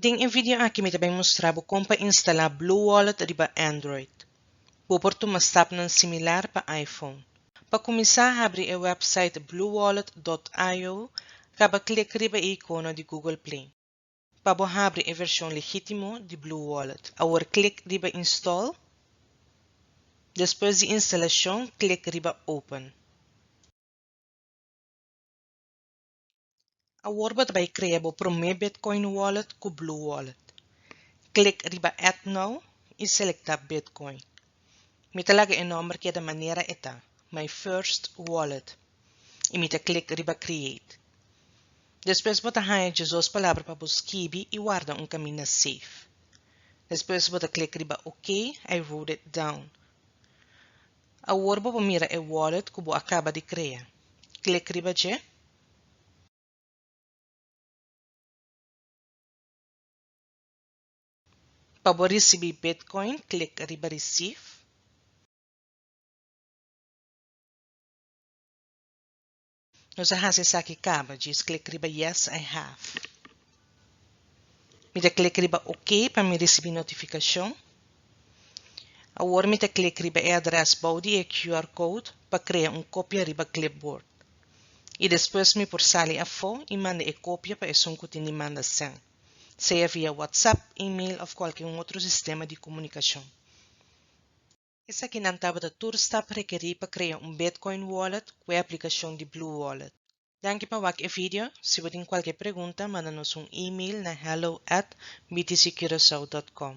Den e video aki mi ta bai mustra bo kon pa instala Bluewallet riba Android. Bo por tuma stapnan similar pa iPhone. Pa kuminsá habri e wèpsait bluewallet dot io, kaba klik riba e ikono di Google Play. Pa bo habri e vershon legítimo di Bluewallet, awor klik riba Install, despues di instalashon klik riba Open. Awor bo ta bai krea bo promé Bitcoin Wallet ku Blue Wallet. Klik riba Add Now i selektá Bitcoin. Mi ta laga e nòmber keda manera e ta, My First Wallet, i mi ta klik riba Create. Despues bo ta haña djizos palabra pa bo skibi i warda un kaminda safe. Despues bo ta klik riba OK I wrote it down. Awor bo por mira e wallet cu bo a caba di crea. Click riba dje. Pa bo ricibi Bitcoin, click riba Receive. Nos a hasi esaki kaba, djis klik riba Yes I have. Mi ta klik riba ok pa mi risibi notifikashon. Awor mi ta klik riba e adrès bou di e QR code pa krea un kopia riba Clipboard. I despues mi por sali afó i manda e kopia pa esun ku tin di manda sèn, sea via WhatsApp, email òf kualke un otro sistema di komunikashon. Esaki nan tabata tur stap rekerí pa krea un Bitcoin Wallet ku e aplikashon di BlueWallet. Danki pa wak e video. Si bo tin kualke pregunta, manda nos un email na hello at btccurasao dot com.